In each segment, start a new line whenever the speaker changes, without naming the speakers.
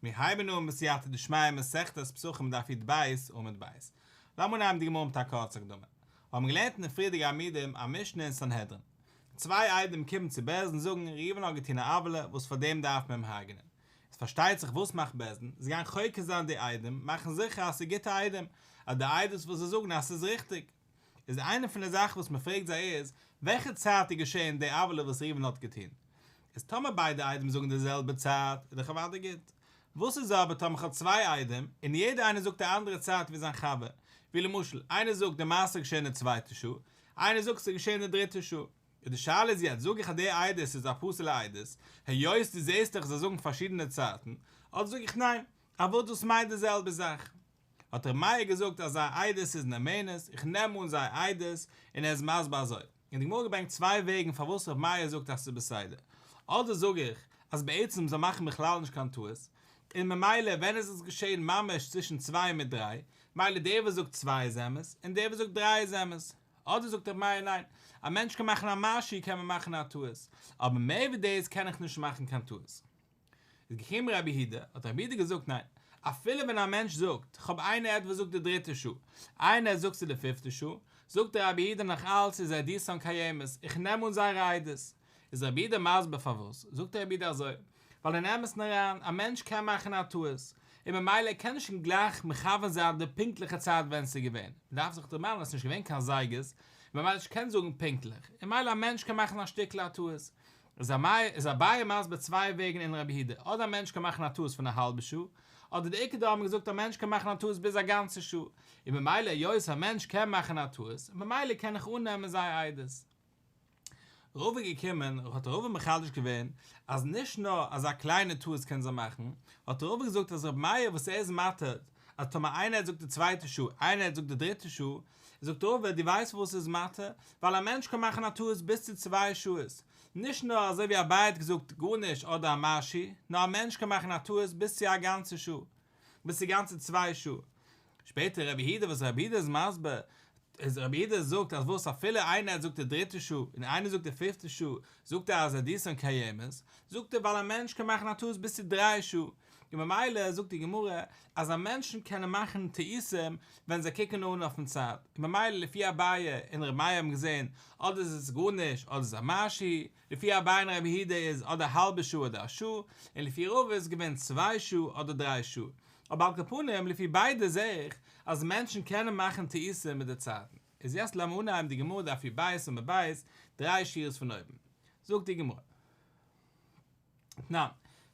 מיר הייבן אן בסייעתא דשמיא מסכת פסחים דף יט ב עמוד ב'. לאמיר אנהייבן די גמרא מיט א קורצע הקדמה. מיר האבן געלערנט אין די פריערדיגע עמודים א משנה אין סנהדרין. צוויי איידים קומען צו בעז ד און זאגן, ראובן האט געטון א עוולה וואס פאר דעם דארף מען אים הרג'נען. איז פארשטייט זיך וואס מאכט בעז ד? זיי גייען חוקר זיין די איידים, מאכן זיכער אז ס'איז גוטע איידים, אז די עדות וואס זיי זאגן אז ס'איז ריכטיג. איז איינע פון די זאכן וואס מען פרעגט זיי איז, וועלכע צייט איז געשען די עוולה וואס ראובן האט געטון? איז טאמער ביידע איידעם זאגן די זעלבע צייט איז דאך אוודאי גוט. וואס איז אבער טאמער כ'האב צוויי איידעם און יעדע איינער זאגט א אנדערע צייט ווי זיין חבר, ווי למשל איינער זאגט די מעשה איז געשען אין די צווייטע שעה, איינער זאגט ס'איז געשען אין די דריטע שעה. איז די שאלה איז יעצט, זאג איך אז די עדות איז א פסול'ע עדות, היות דו זעסט דאך זיי זאגן פארשידענע צייטן, אדער זאג איך ניין, אבער דאס מיינט די זעלבע זאך. האט ר' מאיר געזאגט אז זייער עדות איז נאמנות, איך נעם אן זייער עדות, און ער איז מסביר אזוי. און די גמרא געברענגט צוויי וועגן פארוואס ר' מאיר זאגט אז ס'איז בסדר. אדער זאג איך אז בעצם זיי מאכן בכלל נישט קיין טעות, און ממילא ווען איז עס געשען ממש צווישן צוויי מיט דריי, מילא דער וואס זאגט צוויי איז אמת, און דער וואס זאגט דריי איז אמת. אדער זאגט ר' מאיר ניין, א מענטש קען מאכן א מעשי קען מען מאכן א טעות, אבער מעבר דאס קען איך נישט מאכן קיין טעות. איז געקומען רבי יהודה, האט רבי יהודה געזאגט ניין, אפילו ווען א מענטש זאגט, כ'האב איינער עד וואס זאגט די דריטע שעה, איינער עד זאגט ס'איז די פיפטע שעה, זאגט דער רבי יהודה נאך אלץ איז עדותן קיימת, איך נעם אן זייערע עדות. איז רבי יהודה מסביר פארוואס, זאגט דער רבי יהודה אזוי, ווייל אין אמת'ן אריין, א מענטש קען מאכן א טעות, און ממילא ער קען נישט קיין גלייך מכוון זיין די פונקטליכע צייט ווען ס'איז געווען, מ'דארף זיך דערמאנען אז ס'איז נישט געווען קיין זייגערס, און ממילא נישט קענען זאגן פונקטליך, און ממילא א מענטש קען מאכן א שטיקל א טעות, איז אביי מסביר צוויי וועגן אין רבי היד, אדער א מענטש קען מאכן א טעות פון א האלבע שעה, אדער די עיקר דא האט מען געזאגט א מענטש קען מאכן א טעות ביז א גאנצע שעה, און ממילא היות א מענטש קען מאכן א טעות, ממילא קען איך אננעמען זייער עדות. רב איז געקומען, האט רב מחדש געווען, אז נישט נאר אזא קליינע טעות קען זיי מאכן, האט רב געזאגט אז רבי מאיר וואס ער איז מתיר אז טאמער איינער האט זאגט די צווייטע שו ע, איינער האט זאגט די דריטע שו ע, זאגט ראובן דו ווייסט פארוואס עס איז מטעה, ווייל א מענטש קען מאכן א טעות ביז צו צוויי שו ע'ס, נישט נאר אזוי ווי אביי האט געזאגט גארנישט אדער א מה ש, נאר א מענטש קען מאכן א טעות ביז צו א גאנצע שו ע, ביז צו גאנצע צוויי שו ע. שפעטער רבי יהודה וואס רבי יהודה איז מסביר איז רבי יהודה זאגט אז וואס אפילו איינער האט זאגט די דריטע שו ע און איינער זאגט די פיפטע שו ע זאגט ער אז עדיסאן קיימת, זאגט ער ווייל א מענטש קען מאכן א טעות ביז צו דריי שו ע, און ממילא זאגט די גמרא אז א מענטשן קענען מאכן טעותים ווען זיי קוקן אן אויפן צייט, און ממילא לפי אביי און ר' מאיר האבן געזען אדער איז עס גארנישט אדער איז א משהו, לפי אביי און רבי יהודה איז אדער א האלבע שעה אדער א שעה, און לפי רבא איז געווען צוויי שעה אדער דריי שעה, אבער על כל פנים לפי ביידע זע איך אז מענטשן קענען מאכן טעותים מיט די צייטן, איז יעצט לאמיר אנהייבן די גמרא דף יב בית ומב בית דריי שורות פון אויבן, זאגט די גמרא. תנן,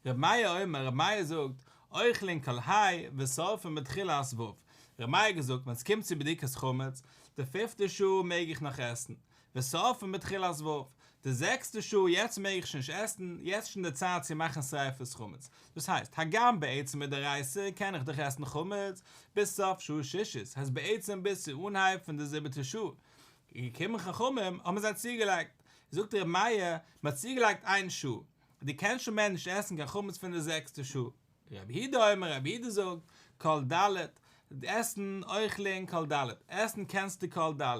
ר' מאיר אומר, ר' מאיר זאגט, אוכלין כל היי ושורפין בתחילה הס ו, ר' מאיר האט געזאגט ווען סקומט צו בדיקת חמץ, די פיפטע שעה מעג איך נאך עסן, ושורפין בתחילה הס ו, די זעקסטע שעה יעצט מעג איך שוין נישט עסן, יעצט שוין די צייט צו מאכן שריפת חמץ, דאס הייסט, הגם בעצם מדאורייסה קען איך דאך עסן חמץ ביז סוף שעה שישית, הייסט בעצם ביז צו אנהייב פון די זיבעטע שעה, געקומען חכמים האבן זיי צוגעלייגט. זאגט רבי מאיר, מען האט צוגעלייגט איין שעה, דו קענסט שוין מער נישט עסן קיין חמץ פון די זעקסטע שעה. רבי הידא אומר, רבי הידא זאגט, כל ד', עסן, אוכלין, כל ד', עסן קענסטו כל ד',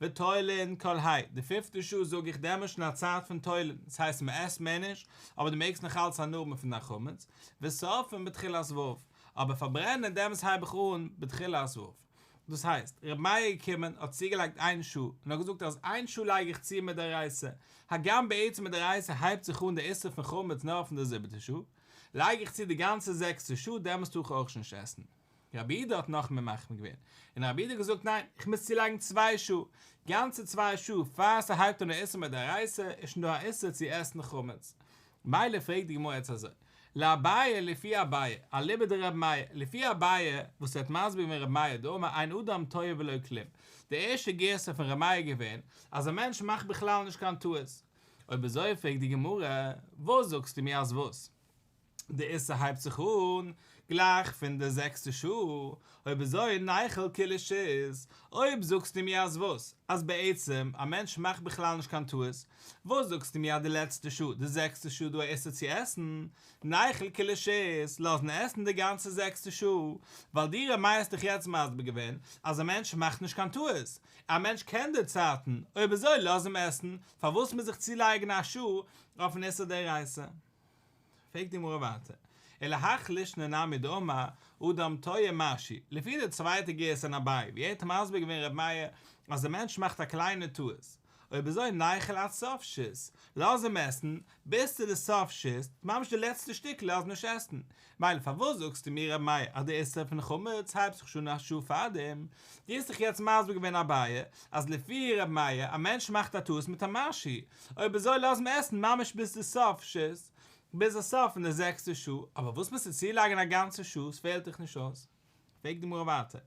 ותולין, כל ה', די פיפטע שעה זאג איך דעמאלט שוין א צייט פון תולין, דאס הייסט מען עסט מער נישט, אבער דו מעגסט נאך אלץ הנאה האבן פון דיין חמץ, ושרפין בתחילת ו', אבער פארברענען דעמאלטס הייב איך אן בתחילת ו'. דאס הייסט, רבי מאיר איז געקומען, האט צוגעלייגט איין שעה, און האט געזאגט אז איין שעה לייג איך צו מדאורייתא, הגם בעצם מדאורייתא הייבט זיך אן דער איסור פון חמץ נאר פון דער זיבעטער שעה, לייג איך צו די גאנצע זעקסטע שעה, דעמאלס טאר איך אויך נישט עסן. רבי איד האט נאך מער מחמיר געווען, און רבי איד האט געזאגט ניין, איך מוז צולייגן צוויי שעה, גאנצע צוויי שעה, פאר ס'הייבט אן דער איסור מדאורייתא, איז שוין דא א איסור צו עסן חמץ. מילא פרעגט די גמרא יעצט אזוי, לאביי לפי אביי, אליבא דרבי מאיר, לפי אביי וואס ווערט מסביר געווען רבי מאיר דא אמר אין אדם טועה ולא כלום, די ערשטע גירסא פון רבי מאיר איז געווען אז א מענטש מאכט בכלל נישט קיין טעות, אויב אזוי פרעגט די גמרא, וואס זאגסטו מיר אז וואס? די איסור הייבט זיך אן. גלייך פון די זעקסטע שעה, אויב אזוי נייכל קיליש איז, אויב זאגסטו מיר אז וואס? אז בעצם א מענטש מאכט בכלל נישט קיין טעות, וואס זאגסטו מיר אז די לעצטע שעה, די זעקסטע שעה דא איסור צו עסן, נייכל קיליש איז, לאזן עסן די גאנצע זעקסטע שעה, ווייל די רמ א האסט דאך יעצט מסביר געווען אז א מענטש מאכט נישט קיין טעות, א מענטש קען די צייטן, אויב אזוי לאז אים עסן, פארוואס מיר זיך צולייגן א שעה אויפן איסור דאורייתא? פרעגט די גמרא ווייטער, אלא הכ לישנא נמי דאמר אדם טועה משי, לפי די צווייטע גירסא אין אביי ווי ער האט מסביר געווען ר' מאיר אז א מענטש מאכט א קליינע טעות, אויב אזוי נייחל עד סוף ש ס, לאז אים עסן ביז צו די סוף ש ס, ממש די לעצטע שטיקל לאז נישט עסן, מילא פארוואס זאגסטו מיר רבי מאיר אז די איסור פון חמץ הייבט זיך שוין א שעה פארדעם? דו האסט דאך יעצט מסביר געווען אביי אז לפי רבי מאיר א מענטש מאכט א טעות מיט א משהו אויב ער זאל לאזן עסן ממש ביז די סוף שס ביז די סוף פון די זעקסטע שעה אבער וואס מוזטו צולייגן א גאנצע שעה ס'פעלט דיך נישט אויס? פרעגט די גמרא ווייטער,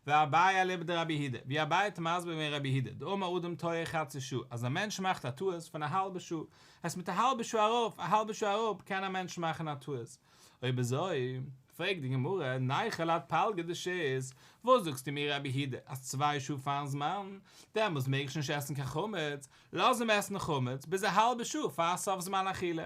ואביי אליבא דרבי הידע, ווי אביי האט מסביר געווען רבי הידע, דאמר אדם טועה חצי שעה, אז א מענטש מאכט א טעות פון א האלבע שעה, הייסט מיט א האלבע שעה ארויף, א האלבע שעה אראפ, קען א מענטש מאכן א טעות. אויב אזוי, פרעגט די גמרא, נייחא לד פלגא דשית, וואס זאגסטו מיר רבי הידע, אז צוויי שעה פארן זמן, דעמאלס מעג איך נישט עסן קיין חמץ, לאז אים עסן חמץ, ביז א האלבע שעה פאר סוף זמן אכילה,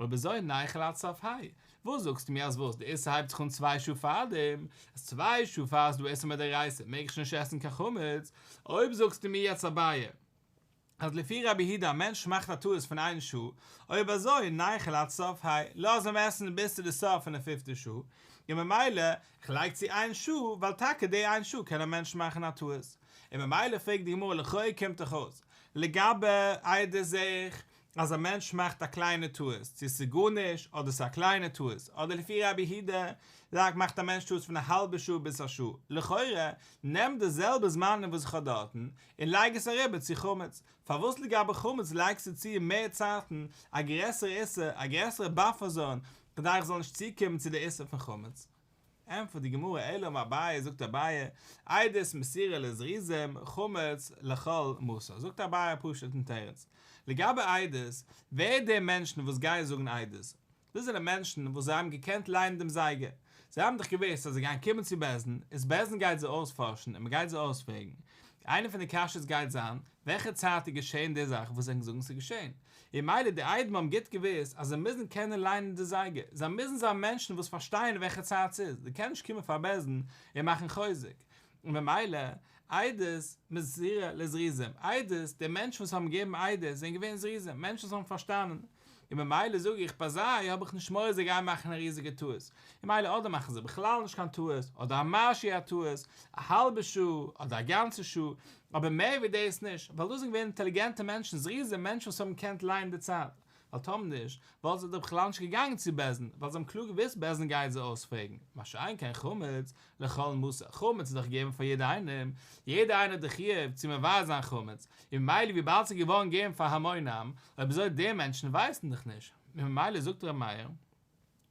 אויב אזוי נייכל עד סוף היי. וואס זאגסטו מיר אז וואס? די איסור הייבט זיך אן צוויי שעה פארדעם? אז צוויי שעה פאר ס'דא איסור מדאורייתא מעג איך נישט עסן קיין חמץ? אויב זאגסטו מיר יעצט אביי אז לפי רבי הידא א מענטש מאכט א טעות פון איין שעה, אויב אזוי נייכל עד סוף היי, לאז אים עסן ביז צו די סוף פון די פיפטע שעה, און ממילא כ'לייג צו איין שעה ווייל טאקע די איין שעה קען א מענטש מאכן א טעות, און ממילא פרעגט די גמרא לכאו' קומט דאך אויס לגבי איידער זעה איך אז א מענטש מאכט א קליינע טעות, צו ס'איז גארנישט אדער ס'איז א קליינע טעות, אדער לפי רבי הידא לייק מאכט א מענטש טעות פון א האלבע שעה ביז א שעה, לכאורה נעם די זעלבע זמנים וואס איך האב דארטן און לייג עס אריבער צו חמץ, פארוואס לגבי חמץ לייגסטו צו מער צייטן, א גרעסערע איסור, א גרעסערע באפער זאון, כדי איך זאל נישט צוקומען צו די איסור פון חמץ? ענטפערט די גמרא אלא מאביי זאגט אביי איידערס מסירה לזריזים חמץ לכל מוסר זאגט אביי א פשוט'ן תירוץ לגבי איידערס ווער די מענטשן וואס גייען זאגן איידערס דאס זענען מענטשן וואס זיי האבן געקענט ליינען דעם זייגער זיי האבן דאך געוואוסט אז זיי גייען קומען צו בעסד און בעסד גייט זיי אויספארשן און מען גייט זיי אויספרעגן איינע פון די קשיות גייט זיין וועלכע צייט איז געשען די זאך וואס ענק זאגן ס'איז געשען און מילא די איידעם האבן גוט געוואוסט אז זיי מוזן קענען ליינען די זייגער, זיי מוזן זיין מענטשן וואס פארשטייען וועלכע צייט ס'איז, זיי קענען נישט קומען פאר בעסען און מאכן חוזק, און במילא עדות מסירה לזריזים, עדות, די מענטשן וואס האבן געגעבן עדות זענען געווען זריזים, מענטשן וואס האבן פארשטאנען, און במילא זאג איך ביי זיי האב איך נישט מורא זיי גייען מאכן א ריזיגע טעות, און מילא אדער מאכן זיי בכלל נישט קיין טעות, אדער א משהו א טעות, א האלבע שעה, אדער א גאנצע שעה, אבער מער ווי דאס נישט, ווייל דאס זענען געווען אינטעליגענטע מענטשן, זריזים, מענטשן וואס האבן געקענט ליינען די צייט, ווייל טאמער נישט, וואלטן זיי דאך בכלל נישט געגאנגען צו בעז ן, ווייל זיי האבן קלאר געוואוסט בעז ן גייט זיי אויספרעגן, מה שאין כן חמץ לכל מסור, חמץ איז דאך געגעבן פאר יעדער איינעם, יעדער איינער האט די חיוב צו מברר זיין חמץ, און ממילא וויבאלד ס'איז געווארן געגעבן פאר המון עם, אויב אזוי די מענטשן ווייסן דאך נישט, און ממילא זאגט ר' מאיר,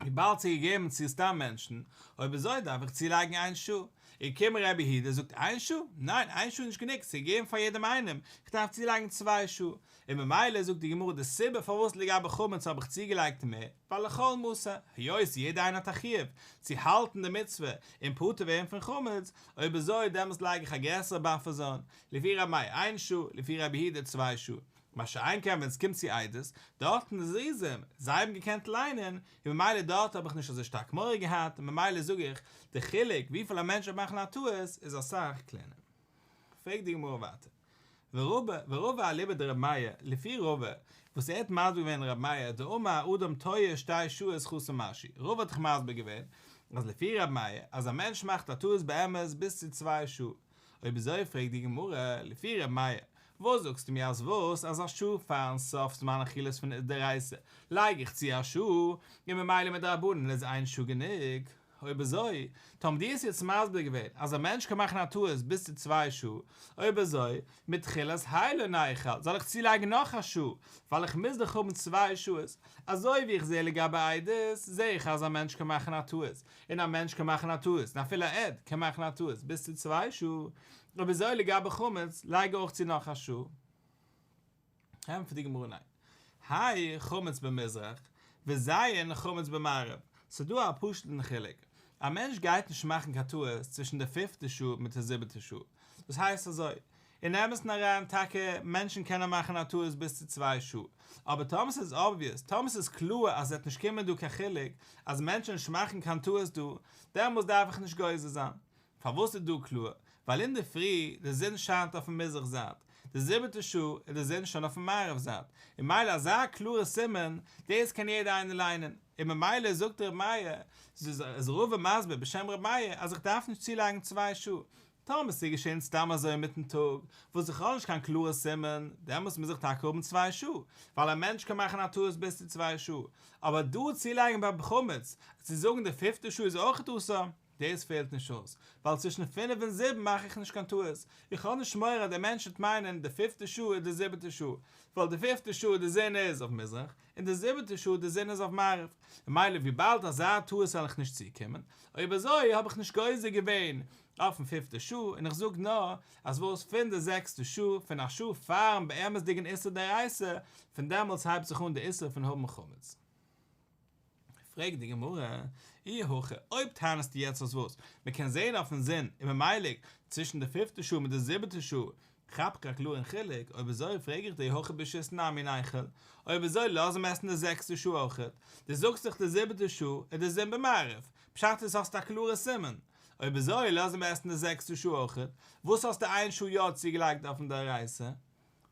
וויבאלד ס'איז געגעבן צו סתם מענטשן, אויב אזוי דארף איך צולייגן איין שעה. און קום רבי יהודה זאגט איין שעה? ניין, איין שעה איז נישט גענוג, ס'איז געגעבן פאר יעדעם איינעם, איך דארף צולייגן צוויי שעה. און ממילא זאגט די גמרא די סיבה פארוואס לגבי חמץ האב איך צוגעלייגט מער, ווייל לכל מוסר, היות יעדע איינער האט א חיוב צו האלטן די מצוה און פטור ווערן פון חמץ, אויב אזוי דעמאלס לייג איך א גרעסערע באפער זאל, לפי רמי איין שעה, לפי רבי יהודה צוויי שעה. מה שאין כן ווען סקומט צו עדות, דארטן איז ריזים, זיי האבן געקענט ליינען, און ממילא דארט האב איך נישט אזוי שטארק מורא געהאט, און ממילא זאג איך, די חילוק וויפיל א מענטש וועט מאכן א טעות איז אסאך קלענער. פרעגט די גמרא ווייטער, ורובא, ורובא אליבא דרבי מאיר, לפי רובא, וואס ער האט מסביר געווען רבי מאיר, דאמר האדם טועה שתי שורות חסר משי, רובא האט דאך מסביר געווען, אז לפי רבי מאיר, אז א מענטש מאכט א טעות באמת ביז צו צוויי שעה, אויב אזוי פרעגט די גמרא, לפי ר' מאיר, וואס זאגסטו מיר אז וואס אז א שעה פארן סוף זמן אכילת פון דאורייתא לייג איך צו א שעה, און ממילא מדרבנן איז איין שעה גענוג? אויב אזוי, טא האבן די עס יעצט מסביר געווען אז א מענטש קען מאכן א טעות ביז צו צוויי שעה, אויב אזוי, מתחילת היי לא נאכל זאל איך צולייגן נאך א שעה, ווייל איך מוז דאך האבן צוויי שעות, אזוי ווי איך זע לגבי עדות, זע איך אז א מענטש קען מאכן א טעות, און א מענטש קען מאכן א טעות, און אפילו א עד קען מאכן א טעות ביז צו צוויי שעה, און וויאזוי לגבי חמץ, לייג אויך צו נאך א שעה. ענטפערט די גמרא ניין. האי חמץ במזרח, וזיין חמץ במערב, ס'דא א פשוט'ן חילוק, א מענטש גייט נישט מאכן קיין טעות צווישן די פיפטע שעה מיט די זיבעטע שעה, דאס הייסט אזוי, אין אמת'ן אריין, טאקע מענטשן קענען מאכן א טעות ביז צו צוויי שעה, אבער טאמער ס'איז אבוויעס, טאמער ס'איז קלאר אז ס'וועט נישט קומען דא קיין חילוק אז מענטשן נישט מאכן קיין טעות דא, דעמאלס דארף איך נישט גוזר זיין. פארוואס איז דא קלאר? ווייל אינדערפרי די זון שיינט אויפן מזרח זייט, די זיבעטע שעה איז די זון שוין אויפן מערב זייט, און מילא אזא קלארע סימן, דאס קען יעדער איינער ליינען, און ממילא זאגט ר' מאיר, ז ל איז מסביר בשם ר' מאיר אז איך דארף נישט צולייגן צוויי שעה, טאמער ס'איז געשען סתם אזוי אינמיטן טאג, וואס איז בכלל נישט קיין קלארע סימן, דעמאלטס מוז איך טאקע האבן צוויי שעה, ווייל א מענטש קען מאכן א טעות ביז צו צוויי שעה, אבער דא צולייגן ביים חמץ צו זאגן די פיפטע שעה איז אויכעט אסור, דאס פעלט נישט אויס, ווייל צווישן פינף און זיבן מאך איך נישט קיין טעות, איך האב נישט מורא אז דער מענטש וועט מיינען די פיפטע שעה איז די זיבעטע שעה, ווייל די פיפטע שעה די זון איז אויף מזרח, און די זיבעטע שעה די זון איז אויף מערב, ממילא וויבאלד אזא טעות וועל איך נישט צוקומען, אויב אזוי האב איך נישט גוזר געווען אויפן פיפטע שעה, און איך זאג נאר אז וואס פון די זעקסטע שעה, פון א שעה פארן באמת'דיגן איסור דאורייתא, פון דעמאלטס הייבט זיך אן די איסור פון האבן חמץ. פרעגט די גמרא, אי הכי, אויב טענה'סטו יעצט אז וואס? מען קען זעהן אויפן זון און ממילא צווישן די פופטע שעה מיט די זיבעטע שעה כאפ איך א קלארן חילוק, אויב אזוי פרעג איך דיר אי הכי בשעת נאר מין אייכל, אויב אזוי לאז עם עסן די זעקסטע שעה אויכעט, דו זאגסט דאך די זיבעטע שעה איז די זון במערב, פשט איז האסט א קלארע סימן, אויב אזוי לאז עם עסן די זעקסטע שעה אויכעט, וואס האסטו איין שעה יא צוגעלייגט אויפן דאורייסה?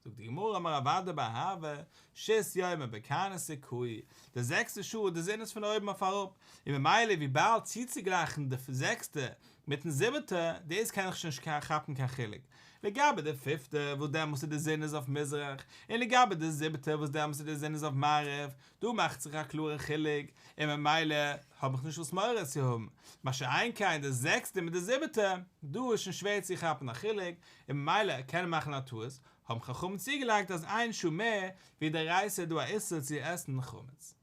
זאגט די גמרא אמר אבידה בר אהבה ששת ימים בקרני סיכוי, די זעקסטע שעה איז די זון איז פון אויבן אויף אראפ, און ממילא וויבאלד צוצוגלייכן די זעקסטע מיטן זיבעטע, דאס קען איך שוין נישט כאפן קיין חילוק, לגבי די פיפטע וואס דעמאלס איז די זון איז אויף מזרח, און לגבי די זיבעטע וואס דעמאלס איז די זון איז אויף מערב, דא מאכט זיך א קלארע חילוק, און ממילא האב איך נישט וואס מורא צו האבן, מה שאין כן די זעקסטע מיט די זיבעטע, דא איז שוין שווער צו כאפן א חילוק, און ממילא ער קען מאכן א טעות, האבן חכמים צוגעלייגט אז איין שעה מער ווי די רייסע איז דא א איסור צו עסן חמץ.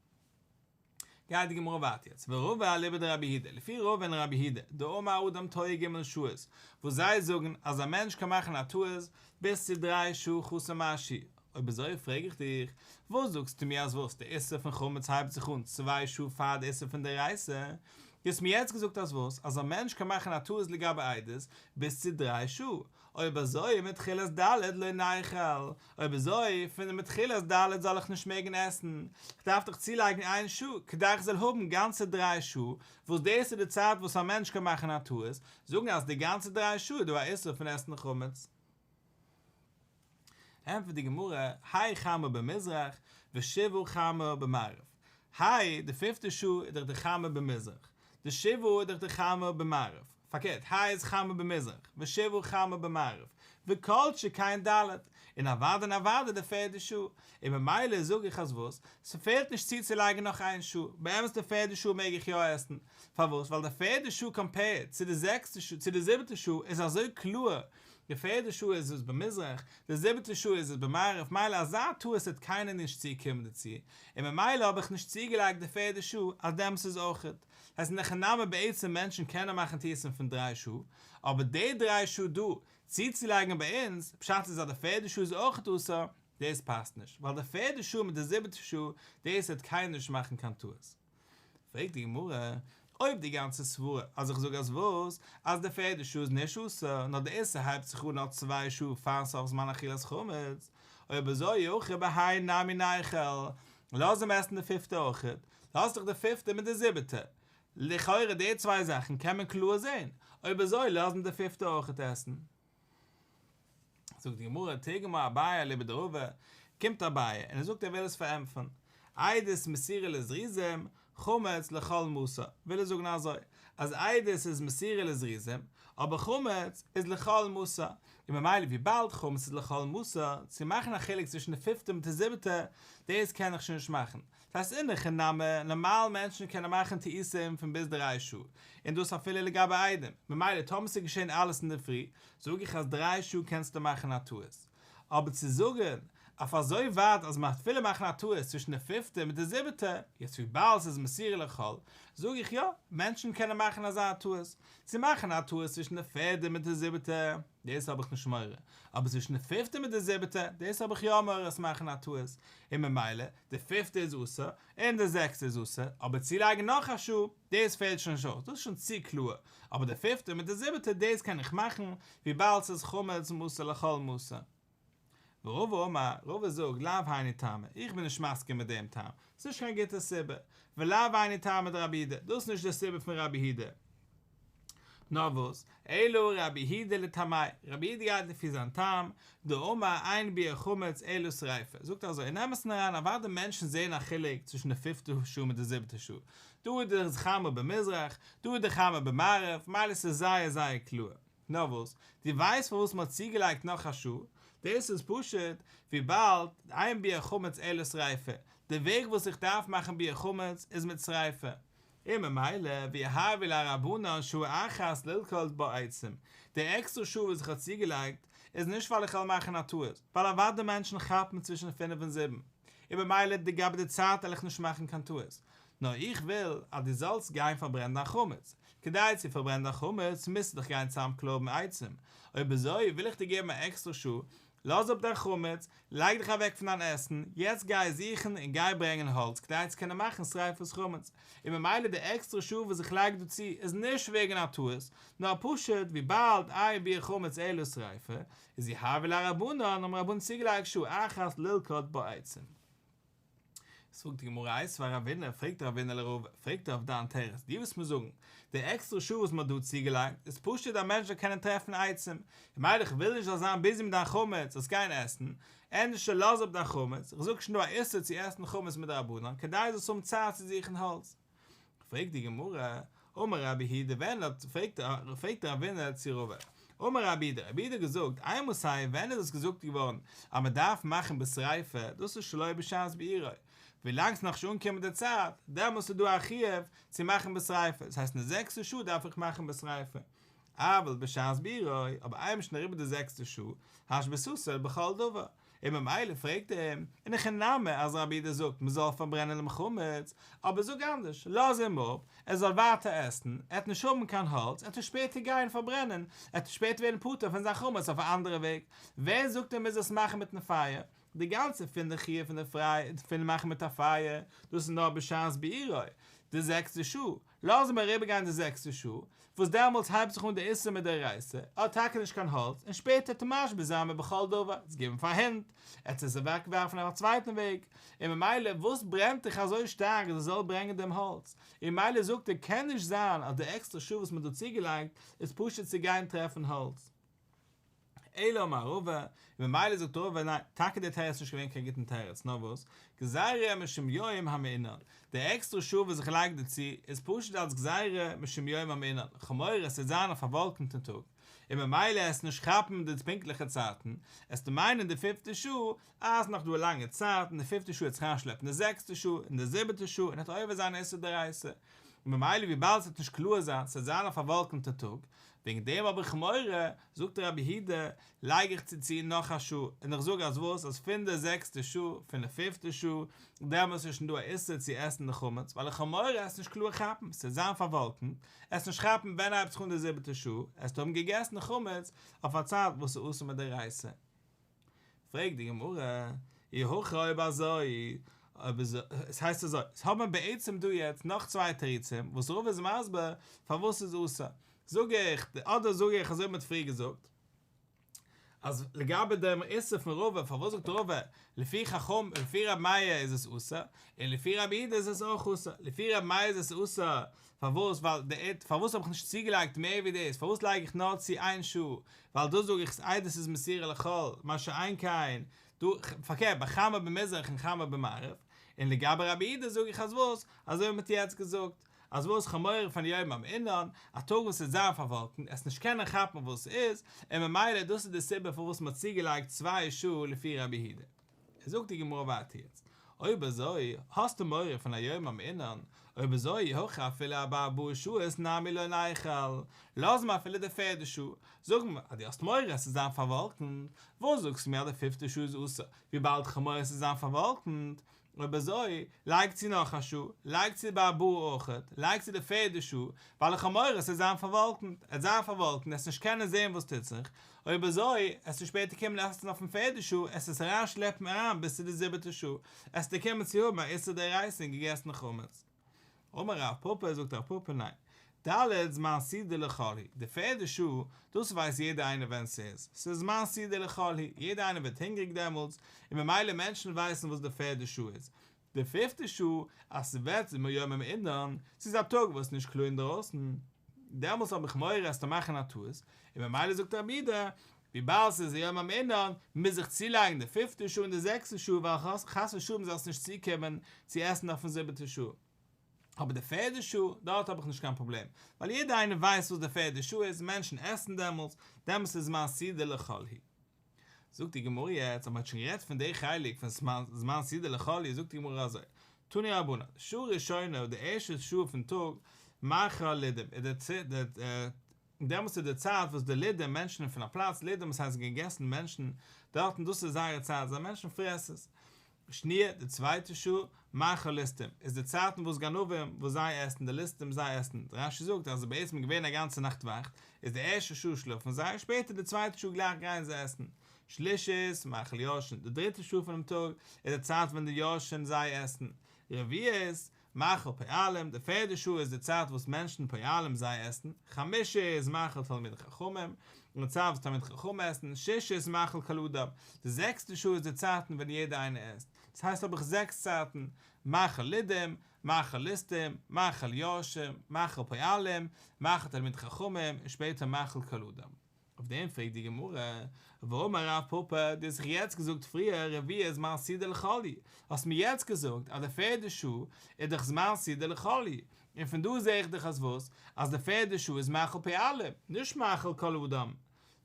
גייט די גמרא ווייטער יעצט, ורובא אליבא דרבי הידא, לפי רוב ווען רבי הידא, דאמר אדם טועה ג' שעות, וואס זיי זאגן אז א מענטש קען מאכן א טעות ביז צו דריי שעה חסר משהו, אויב אזוי פרעג איך דיך, וואס זאגסטו מיר אז וואס די איסור פון חמץ הייבט זיך אן צוויי שעה פאר די איסור פון דאורייתא, דו האסט מיר יעצט געזאגט אז וואס אז א מענטש קען מאכן א טעות לגבי עדות ביז צו דריי שעה, אויב אזוי מתחילת ד' לא נאכל, אויב אזוי פון מתחילת ד' זאל איך נישט מעגן עסן, איך דארף דאך צולייגן איין שעה כדי איך זאל האבן גאנצע דריי שעה, וואס דאס איז די צייט וואס א מענטש קען מאכן א טעות, זאגן אז די גאנצע דריי שעה איז דא א איסור פון עסן חמץ. ענטפערט די גמרא, האי חמא במזרח ושבעו חמא במערב, האי, די פינפטע שעה איז דאך די חמא במזרח, די שבעו איז דאך די חמא במערב, פארקערט, האי איז חמא במזרח, ושבעו חמא במערב, וכל שכן ד', און אוודאי און אוודאי די פערדע שעה, און ממילא זאג איך אז וואס? ס'פעלט נישט צו צו לייגן נאך איין שעה, באמת די פערדע שעה מעג איך יא עסן, פארוואס? ווייל די פערדע שעה קאמפעירד צו די זעקסטע שעה, צו די זיבעטע שעה, איז אזוי קלאר, די פערדע שעה איז עס במזרח, די זיבעטע שעה איז עס במערב, מילא אזא טעות האט קיינער נישט צו קומען דערצו, און ממילא האב איך נישט צוגעלייגט די פערדע שעה אז דעמאלס איז אויכעט. עס איז נאך אינאמען בעצם מענטשן קענען מאכן טעותים פון דריי שעה, אבער די דריי שעה דא צוצולייגן ביי אונז, פשט איז אז די פערדע שעה איז אויכעט אסור, דאס פאסט נישט, ווייל די פערדע שעה מיט די זיבעטע שעה, דאס העט קיינער נישט מאכן קיין טעות. פרעגט די גמרא, אויב די גאנצע סברה אז איך זאג אז וואס? אז די פערדע שעה איז נישט אסור, נאר די איסור הייבט זיך אן נאך צוויי שעה פארן סוף זמן אכילת חמץ, אויב אזוי אויך ב ה היי נמי נייכעל, לאז אים עסן די פיפטע אויך, לאז דאך די פיפטע מיט די זיבעטע, לכאורה די צוויי זאכן קען מען קלאר זען, אויב אזוי לאז אים די פיפטע אויך עסן. זאגט די גמרא תיגמא אביי אליבא דרובא, קומט אביי און ער זאגט ער וויל עס פארענטפערן, עדות מסירה לזריזים, חמץ לכל משא, וויל ער זאגן אזוי, אז עדות איז מסירה לזריזים, אבער חמץ איז לכל משא, און ממילא וויבאלד חמץ איז לכל משא, צו מאכן א חילוק צווישן די פיפטע מיט די זיבעטע, דאס קען איך שוין נישט מאכן, דאס אינו חינם, נארמאל מענטשן קענען מאכן טעותים פון ביז דריי שעה, און דאס אפילו לגבי איידעם, ממילא טאמער ס'איז געשען אלעס אינדערפרי, זאג איך אז דריי שעה קענסטו מאכן א טעות. אבער צו זאגן אויף אזוי ווייט אז מ'האט אפילו מאכן א טעות צווישן די פיפטע מיט די זיבעטע, יעצט וויבאלד ס'איז מסירה לכל, זאג איך יא, מענטשן קענען מאכן אזא טעות, צו מאכן א טעות צווישן די פערדע מיט די זיבעטע. דאס האב איך נישט מורא, אבער צווישן די פיפטע מיט די זיבעטע, דאס האב איך יא מורא עס מאכן א טעות, און ממילא, די פיפטע איז אסור, און די זעקסטע איז אסור, אבער צולייגן נאך א שעה, דאס פעלט שוין נישט אויס, דאס איז שוין צו קלאר, אבער די פיפטע מיט די זיבעטע דאס קען איך מאכן, וויבאלד ס'איז חמץ מותר לכל מותר. ורבא אמר, רבא זאגט, לאו הייני טעמא, איך בין נישט מסכים מיט דעם טעם, ס'איז נישט קיין גוטע סיבה, ולאו הייני טעמא דרבי יהודה, דאס איז נישט די סיבה פון רבי יהודה, נאר וואס, אלא רבי יהודה לטעמיו, רבי יהודה גייט לפי זיין טעם, דאמר עיין ביעור חמץ אלא שריפה, זאגט ער אזוי, און אמת'ן אריין, אוודאי מענטשן זעען א חילוק צווישן די פיפטע שעה מיט די זיבעטע שעה, דא איז די חמה במזרח, דא איז די חמה במערב, מילא ס'איז זייער זייער קלאר. נאר וואס? דו ווייסט פארוואס מ'האט צוגעלייגט נאך א שעה? דאס איז פשוט וויבאלד איין ביעור חמץ עולה שריפה, די וועג וואס איך דארף מאכן ביעור חמץ איז מיט שריפה, און ממילא ווי הארעווי לרבנן שעה אחת ללקט בעצם, די עקסטער שעה וואס איך האב צוגעלייגט איז נישט ווייל איך וועל מאכן א טעות, ווייל אוודאי מענטשן כאפן צווישן פינף און זיבן, און ממילא לגבי די צייט וועל איך נישט מאכן קיין טעות, נאר איך וויל אז דו זאלסט גיין פארברענען דיין חמץ. כדי צו פארברענען דיין חמץ מוזטו דאך גיין צוזאמקלויבן עצים. אויב אזוי וויל איך דיר געבן א עקסטערע שעה, לאז אפ דיין חמץ, לייג דיך אוועק פון דיין עסן, יעצט גיי זוכן און גיי ברענגען האלץ כדי צו קענען מאכן שריפת חמץ. און ממילא די עקסטערע שעה וואס איך לייג דא צו איז נישט וועגן א טעות, נאר פשוט וויבאלד איין ביעור חמץ עלול שריפה, איז יהא ולא רבנן האבן רבנן צוגעלייגט שעה אחת ללקוט בעצים. זאגט די גמרא איז פאר אבינו, פרעגט דער אבינו לרוב, פרעגט ער אויף דיין תירוץ, דו וועסט מיר זאגן, די עקסטערע שעה וואס מ'האט דא צוגעלייגט, איז פשוט אז א מענטש זאל קענען טרעפן עצים, ממילא איך וויל נישט זאלסט זיין ביזי מיט דיין חמץ, זאלסט גיין עסן, ענדערשער לאז אפ דיין חמץ, איך זאג שוין דא א איסור צו עסן חמץ מדרבנן, כדי זאלסט האבן צייט צו זוכן האלץ. פרעגט די גמרא, אמר רבי היד ע ווען האט, פרעגט דער אבינר צו רב ע, אמר רבי היד ע, רבי היד ע האט געזאגט, איי מוסי ע ווען איז עס געזאגט געווארן אז מען דארף מאכן בשריפה, דאס איז שלא בשעת בעירה, ווילאנג ס'איז נאכנישט אנגעקומען די צייט, דעמאלס איז דא א חיוב צו מאכן בשריפה, דאס הייסט אין די זעקסטע שעה דארף איך מאכן בשריפה, אבל בשעת בעירה, אבער איינמאל מ'איז שוין אריבער די זעקסטע שעה, האשבסוסל בכל דבר, און ממילא פרעגט ער אים, און הכי נמי אז רבי איד זאגט מען זאל פארברענען דעם חמץ, אבער זאג אנדערש, לאז אים אפ, ער זאל ווייטער עסן, ער וועט נישט האבן קיין האלץ, ער וועט שפעטער גיין פארברענען, ער וועט שפעטער ווערן פטור פון זיין חמץ אויף א אנדערע וועג, ווער זאגט ער מוז עס מאכן מיטן פייער? די גאנצע פון די חיוב פון די פריי פון מאכן מיט א פייער, דאס איז נאר בשעת בעירה, די זעקסטע שעה, לאזן מיר אריבערגיין די זעקסטע שעה, וואס דעמאלטס הייבט זיך אן די איסור מדאורייתא, ער האט טאקע נישט קיין האלץ, און שפעטער טו משבית זיין מען בכל דבר, עטס גיבן פאר הינט, עטס עס אוועק ווארפן אויף א צווייטן וועג, און ממילא וואס ברענט דיך אזוי שטארק אז ער זאל ברענגען דעם האלץ, און מילא זאגט ער קען נישט זיין אז די עקסטער שעה וואס מען האט דא צוגעלייגט איז פשוט צו גיין טרעפן האלץ. אלא אמר רבא, און ממילא זאגט רבא, ניין, טאקע דער תירוץ איז נישט געווען קיין גוטן תירוץ, נאר וואס, גזירה משום יום המעונן, די עקסטרע שעה וואס זיך לייגט דערצו, איז פשוט אלס גזירה משום יום המעונן, חמור עס וועט זיין א פארוואלקענטן טאג, און ממילא עסט נישט כאפן די פונקטליכע צייטן, עס טאר מיינען די פיפטע שעה, אה, עס איז נאך דא א לאנגע צייט, אין די פיפטע שעה וועט זיך אריינשלעפן די זעקסטע שעה, אין די זיבעטע שעה, און עס וועט עובר זיין איסור דאורייתא, און ממילא וויבאלד עס וועט נישט קלאר זיין, עס וועט זיין א פארוואלקענטע טאג, וועגן דעם האב איך מורא, זאגט רבי הידא, לייג איך צו צו נאך א שעה, און איך זאג אז וואס, אז פון די זעקסטע שעה, פון די פיפטע שעה, דעמאלס איז שוין דא א איסור צו עסן די חמץ, ווייל איך האב מורא עס נישט קלאר כאפן, עס וועט זיין פארוואלקנט, עס נישט כאפן ווען הייבט זיך אן די זיבעטע שעה, עס האבן געגעסן חמץ אויף א צייט וואס איז אסור מדאורייתא. פרעגט די גמרא, אי הכא אויב אזוי, אויב איז עס הייסט אזוי, עס האט מען בעצם דא יעצט נאך צוויי תירוצים וואס רבא איז מסביר פארוואס ס'איז אסור, זאג איך, אדער זאג איך אזוי ווי מען האט פריער געזאגט, אז לגבי דעם איסור פון רבא, פארוואס זאגט רבא, לפי חכם, לפי ר' מאיר איז עס אסור, און לפי ר' איד איז עס אויך אסור, לפי ר' מאיר איז עס אסור פארוואס? ווייל די עד. פארוואס האב איך נישט צוגעלייגט מער ווי דאס? פארוואס לייג איך נאר צו איין שעה? ווייל דאס זאג איך סאיז עדות איז מסירה לכל, מה שאין כן דא, פארקערט ביי חמה במזרח און חמה במערב, און לגבי רבי אידה זאג איך אז וואס? אזוי ווי מען האט יעצט געזאגט, אז וואס חמור פון יום אום אינן, א טאג וואס וועט זיין פארוואלקנט, עס נישט קענען כאפן וואס ס'איז, און ממילא דאס איז די סיבה פארוואס מען האט צוגעלייגט צוויי שעה לפי רבי אידה. זאגט די גמרא ווייטער יעצט אויב אזוי האסטו מורא פון א יום המעונן, אויב אזוי הכה אפילו ארבעה באר שעות נעמי לא נאכל, לאז מיר אפילו די פערדע שעה, זאג מיר אז דו האסט מורא עס צו זיין פארוואלקנט, וואס זאגסטו מיר אז די פיפטע שעה איז אסור, וויבאלד כ'האב מורא עס צו זיין פארוואלקנט, אויב אזוי לייג צו נאך א שעה, לייג צו ביי ארבעה אויכעט, לייג צו די פערדע שעה, ווייל איך האב מורא עס צו זיין פארוואלקנט, עס זיין פארוואלקנט, עס נישט קענען זען וואס טוט זיך, אויב אזוי, עסטו שפעטער קומען עסן אויפן פערדע שעה, עסט עס אריין שלעפן אריין ביז צו די זיבעטע שעה, עסטו קומען צו האבן א איסור דאורייתא און געגעסן חמץ. אמר רב פפא זאגט רב פפא ניין, ד' זמן סעודה לכל היא, די פערדע שעה, דאס ווייסט יעדער איינער ווען ס'איז, ס'איז זמן סעודה לכל היא, יעדער איינער ווערט הונגעריג דעמאלטס, און ממילא מענטשן ווייסן וואס די פערדע שעה איז, די פיפטע שעה אז ס'ווערט זימער יום אין אינערן, ס'איז א טאג וואס נישט קלאר אינדרויסן, דעמאלס האב איך מורא אז טו מאכן א טעות, און ממילא זאגט רבי ד, וויבאלד ס'איז יום אין אינערן, מוז איך צולייגן די פיפטע שעה און די זעקסטע שעה ווייל חס ושלום זאל עס נישט צוקומען צו עסן אויפן זיבעטע שעה. אבער די פערדע שעה, דארט האב איך נישט קיין פראבלעם, ווייל יעדער איינער ווייסט וואס די פערדע שעה איז, מענטשן עסן דעמאלס, דעמאלס איז זמן סידור לכל הי'. זאגט די גמרא יעצט אז מען האט שוין גערעדט פון די חלק פון זמן סעודה לחלי זאגט די גמרא אזוי תני רבנן שעה ראשונה די ערשטע שעה פון טאג מאחר לידים איז די צייט דעמאלטס איז די צייט וואס די לידים מענטשן און פון א פלאץ לידים עס הייסט געגעסן מענטשן דארטן דאס איז זייער צייט זיי מענטשן פרעסערס שנייה, די צווייטע שעה, מאכל ליסטים, איז די צייט אין וואס גנבים, וואס זיי עסן, די ליסטים, זיי עסן. רש י זאגט אז עס איז בעצם געווען א גאנצע נאכט וואכט, איז די ערשטע שעה שלאפן זיי, שפעטער די צווייטע שעה גלייך גייען זיי עסן. שלישית, מאכל ישן, די דריטע שעה פונעם טאג, איז די צייט ווען די ישן, זיי עסן. רביעית, מאכל פעלים, די פערדע שעה איז די צייט וואס מענטשן פעלים זיי עסן, חמשה איז מאכל תלמידי חכמים, די צייט וואס תלמידי חכמים עסן, שישה איז מאכל כל אדם, די זעקסטע שעה איז די צייטן ווען יעדער איינער עסט, דאס הייסט האב איך זעקס צייטן, מאכל לידים, מאכל ליסטים, מאכל יורשים, מאכל פעלים, מאכל תלמידי חכמים, און שפעטער מאכל כל אדם. אויף דעם פרעגט די גמרא, ואמר רב פפא, דו האסט זיך יעצט געזאגט פריער רביעי איז זמן סעודה לחלי, האסט מיר יעצט געזאגט אז די פערדע שעה איז דאך זמן סעודה לחלי, און פון דא זע איך דאך אז וואס? אז די פערדע שעה איז מאכל פי עלה, נישט מאכל כל האדם.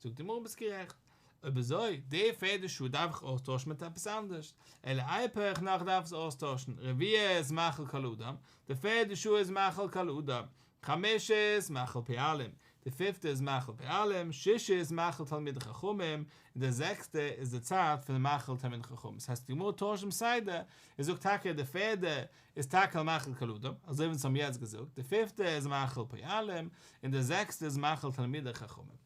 זאגט די גמרא ביסט גערעכט, אויב אזוי, די פערדע שעה דארף איך אויסטוישן מיט עפעס אנדערש, אלא איי פעך נאך דארף עס אויסטוישן, רביעי איז מאכל כל האדם, די פערדע שעה איז מאכל כל האדם, חמושית מאכל פעלים, די פיפטע איז מאכל פעלים, שישית מאכל תלמידי חכמים, און די זעקסטע איז די צייט פון מאכל תלמידי חכמים, דאס הייסט די גמרא טוישט דעם סדר און זאגט טאקע די פערדע איז טאקע א מאכל קלדים, אזוי ווי אונז האבן יעצט געזאגט, די פיפטע איז מאכל פעלים, און די זעקסטע איז מאכל תלמידי חכמים.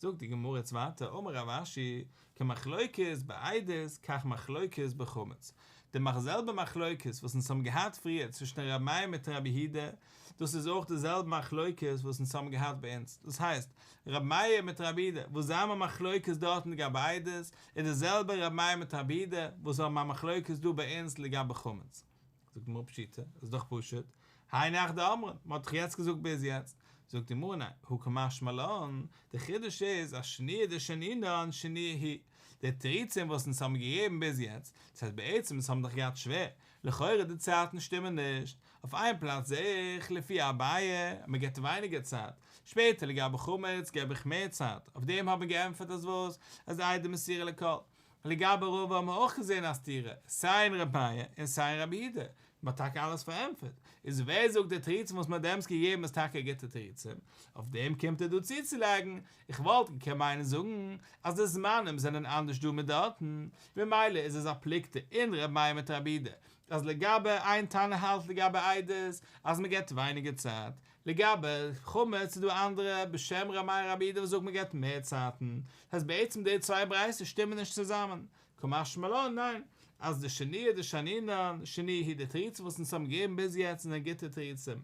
זאגט די גמרא יעצט ווייטער, אמר רב אשי, כמחלוקת בעדות כך מחלוקת בחמץ, די זעלבע מחלוקת וואס אונז האבן געהאט פריער צווישן ר' מאיר מיט ר' יהודה, דאס איז אויך די זעלבע מחלוקת וואס אונז האבן געהאט ביי אונז, דאס הייסט, ר' מאיר מיט ר' יהודה וואס זיי האבן א מחלוקת דארטן לגבי עדות, איז די זעלבע ר' מאיר מיט ר' יהודה וואס האבן א מחלוקת דא ביי אונז לגבי חמץ. זאגט די גמרא פשיטא, עס איז דאך פשוט, האי נח דאמרן, מען האט דאך יעצט געזאגט ביז יעצט, זאגט די גמרא ניין, הוא כמשמע לן, דער חידוש איז אז שניה דשנינן שניה היא, די תירוצים וואס אונז האבן געגעבן ביז יעצט, דאס הייסט בעצם אונז האבן דאך געהאט שווער, לכאורה די צייטן שטימען נישט, אויף איין פלאץ זע איך לפי אביי אז מען געבט ווייניגער צייט, שפעטער לגבי חמץ געב איך מער צייט, אויף דעם האט מען געענטפערט אז וואס, אז איידער מסירה לכל, לגבי רובא האט מען אויך געזען א סתירה, סיי אין רביה און סיי אין רבי אידה, מען האט טאקע אלעס פארענטפערט, איז ווער זאגט די תירוצים וואס מען האט דעמאלטס געגעבן איז טאקע גוטע תירוצים, אויף דעם קומט ער דא צוצולייגן, איך וואלט געקענט מיינען זאגן אז די זמנים זענען אנדערש דא מיט דארטן, ממילא איז עס א פלוגתא אין רביה מיט רבי אידה, אז לגבי איין תנא האלט לגבי עדות אז מען געבט ווייניגער צייט, לגבי חמץ איז דא אנדערע בשם ר' מאיר אבער יעדער וואס זאגט מ'געט מער צייטן, דאס הייסט בעצם די צוויי ברייתות שטימען נישט צוזאמען? כמשמע לן ניין, אז די שני איז די שענינן שני היא די תירוצים וואס אונז האבן געגעבן ביז יעצט זענען גוטע תירוצים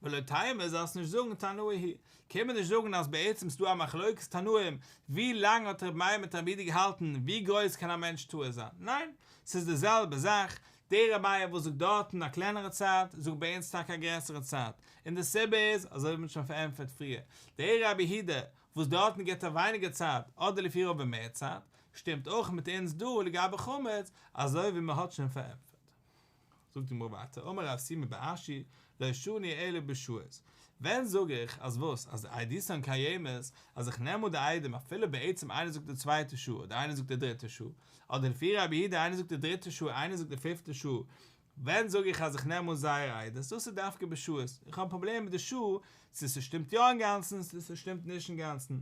ולא טעימה זאלסט נישט זאגן תנאי היא, קען מען נישט זאגן אז בעצם ס'דא א מחלוקת תנאים ווי לאנג האט ר' מאיר מיט ר' יהודה געהאלטן ווי גרויס קען א מענטש טועה זיין? ניין, ס'איז די זעלבע זאך, דער רביה וואס זאגט דארטן א קלענערע צייט, זאגט ביי אונז טאקע א גרעסערע צייט, און די סיבה איז, אזוי ווי מען האט שוין פארענטפערט פריער, דער רבי הי ד וואס דארטן גיבט ער ווייניגער צייט, אדער לפי רובם מער צייט, שטימט אויך מיט אונז דא לגבי חמץ, אזוי ווי מען האט שוין פארענטפערט. זאגט די גמרא ווייטער, אמר רב סימא בר אשי, לא שני אלא בשעות, ווען זאג איך אז וואס, אז די איידיסאן קיימת, אז איך נעם אן די איידים אפילו בעצם איינער זאגט די צווייטע שעה אדער איינער זאגט די דריטע שעה, אדער די פירער אבי הידע איינער זאגט די דריטע שעה איינער זאגט די פיפטע שעה ווען זאג איך אז איך נעם אן זייער איידעס דאס איז דווקא בשעות איך האב פראבלעם מיט די שעה צו ס'שטימט יא אינגאנצן צו ס'שטימט נישט אינגאנצן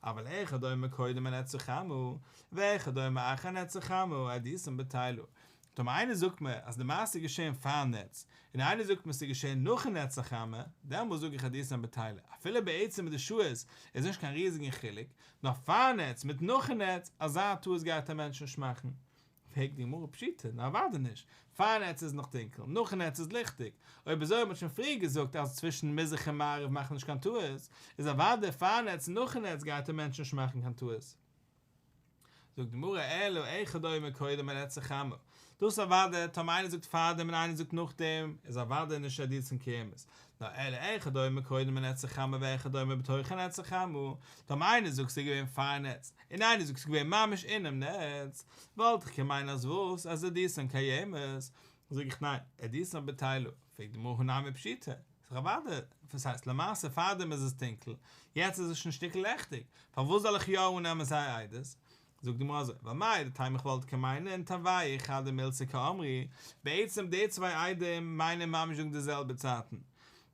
אבל איכא דומי קודם אן עצי חמהו ואיכא דומי אחר אן עצי חמהו עדיסם בטלו טאמער איינער זאגט מיר אז די מעשה איז געשען פארן נץ און איינער זאגט מיר ס'איז געשען נאכן נץ החמה דעמאלס זאג איך עדיסם בטלו אפילו בעצם מיט די שעות איז נישט קיין ריזיגן חילוק נאר פארנעץ מיט נאכן נעץ, אזא טעות גייט א מענטש נישט מאכן. פרעגט די גמרא פשיטא, נו אוודאי נישט, פארנעץ איז נאך טונקל, נאכן נעץ איז ליכטיג, אויב אזוי האט מען שוין פריער געזאגט אז צווישן מזרח און מערב מאכט נישט קיין טעות, איז אוודאי פארנעץ און נאכן נעץ גייט א מענטש נישט מאכן קיין טעות. זאגט די גמרא אלא איכא דאימא קודם און איצא חמא, דאס אוודאי טאמער איינער זאגט פארדעם און איינער זאגט נאכדעם איז אוודאי נישט עדות צום קיימות, נאר אלא איכא דאימא קודם און איצא חמא ואיכא דאימא בתוך און איצא חמא, טאמער איינער זאגט ס'איז געווען פארן נץ און איינער זאגט ס'איז געווען ממש אינעם נץ, וואלט איך געמיינט אז וואס אז עדותן קיימת, זאג איך ניין, עדותן בטלו, פרעגט די גמרא הא נמי פשיטא, ס'איז דאך אוודאי, וואס הייסט, למעשה פארדעם איז עס טונקל, יעצט איז עס שוין שטיקל לעכטיג, פארוואס זאל איך יא אננעמען זייער עדות? זאגט די גמרא אזוי, ווייל מאי דטעמא איך וואלט קענען מיינען טעמי' אחד דמילתא כאמרי, בעצם די צוויי עדים מיינען ממש זאגן די זעלבע צייטן,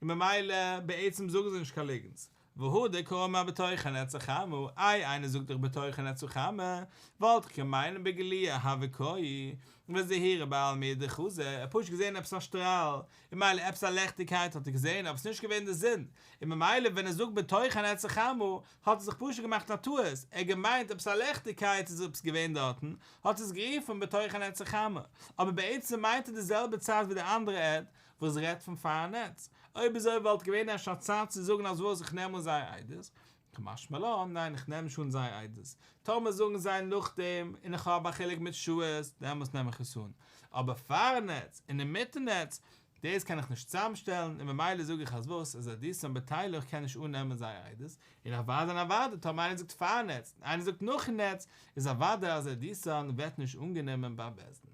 און ממילא בעצם זאגן זיי נישט קיין ליגנטס, והא דקא מה בתוכן עצה חמה, איי איינער זאגט דאך בתוכן עצה חמה, וואלט איך געמיינט בגלי' אהא וקאי, וזהירה בעל מי דחזה, ער האט פשוט געזען עפעס א שטראל, און מילא עפעס א לעכטיגקייט האט ער געזען אבער ס'איז נישט געווען די זון, און ממילא ווען ער זאגט בתוכן עצה חמה האט ער זיך פשוט געמאכט א טעות, ער האט געמיינט עפעס א לעכטיגקייט איז עפעס געווען דארטן, האט ער עס גערופן בתוכן עצה חמה, אבער בעצם מיינט ער די זעלבע צייט ווי די אנדערע עד, וואס רעדט פון פארן נעץ. אויב אזוי וואלט געווען אפשר א צייט צו זאגן אז וואס איך נעם אן זייער איידעס. כמשמע לן, ניין איך נעם נישט אן זייער איידעס. טאמער זאגן זיי נאכדעם און איך האב א חילוק מיט ש ס, דעמאלטס נעם איך עס אן. אבער פארן נעץ און אינמיטן נעץ, דאס קען איך נישט צוזאמשטעלן, און ממילא זאג איך אז וואס איז א דיסאן בטיילוך קען נישט אן נעמען זייער איידעס, און אוודאי און אוודאי טאמער איינער זאגט פארן נעץ און איינער זאגט נאכן נעץ, איז אוודאי אז דער דיסאן ווערט נישט אנגענומען ביים בית דין.